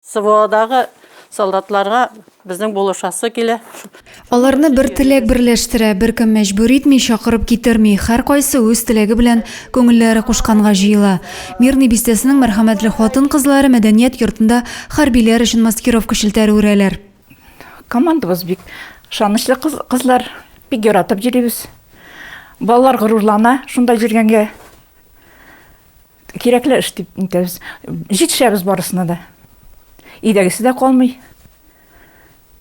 СВОдагы солдатларга безнең булышасы килә. Аларны бер теләк берләштерә, беркем мәҗбүр итми, чакырып китерми, һәркайсы үз теләге белән күңелләре кушканга җыела. Мирный бистәсенең мәрхәмәтле хатын-кызлары мәдәният йортында хәрбиләр өчен маскировка челтәре үрәләр. Командабыз бик ышанычлы кызлар, бик яратып йөрибез. Балалар горурлана шунда йөргәнгә. Кирәкле эш дип үтәбез. Җитешәбез барысына да. Өйдәгесе дә калмый.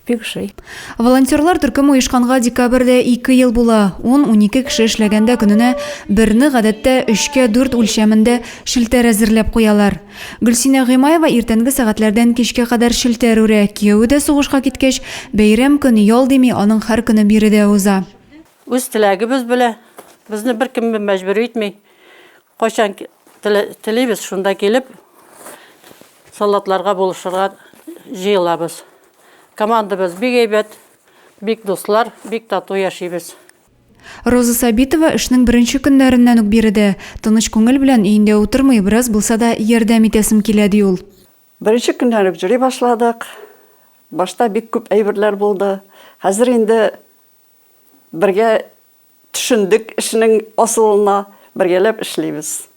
Бик ошый. Волонтерлар төркеме оешканга декабрьдә ике ел була. Ун-унике кеше эшләгәндә көненә берне, гадәттә, өчкә дүрт үлчәмендә челтәр әзерләп куялар. Гөлсинә Гыймаева иртәнге сәгатьләрдән кичкә кадәр челтәр үрә. Кияве дә сугышка киткәч, бәйрәм көн, ял дими, аның һәр көне биредә уза. Үз теләгебез белән, безне беркем мәҗбүр итми. Кайчан телибез, шунда килеп, салатларга булышырга җыелабыз. Командабыз бик әйбәт, бик дуслар, бик тату яшибез. Роза Сабитова эшнең беренче көннәреннән үк биредә. Тыныч күңел белән өендә утырмый, бераз булса да ярдәм итәсем килә, ди ул. Беренче көннән үк җыри башладык. Башта бик күп әйберләр булды. Хәзер инде Бергә төшендек эшнең асылына, бергәләп эшлибез.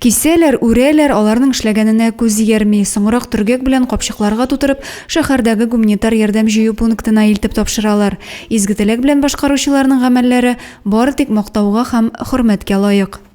Кисәләр, үрәләр, аларның эшләгәненә күз иярми. Соңрак төргәк белән капчыкларга тутырып, шәһәрдәге гуманитар ярдәм җыю пунктына илтеп тапшыралар. Изге теләк белән башкаручыларның гамәлләре бары тик мактауга һәм хөрмәткә лаек.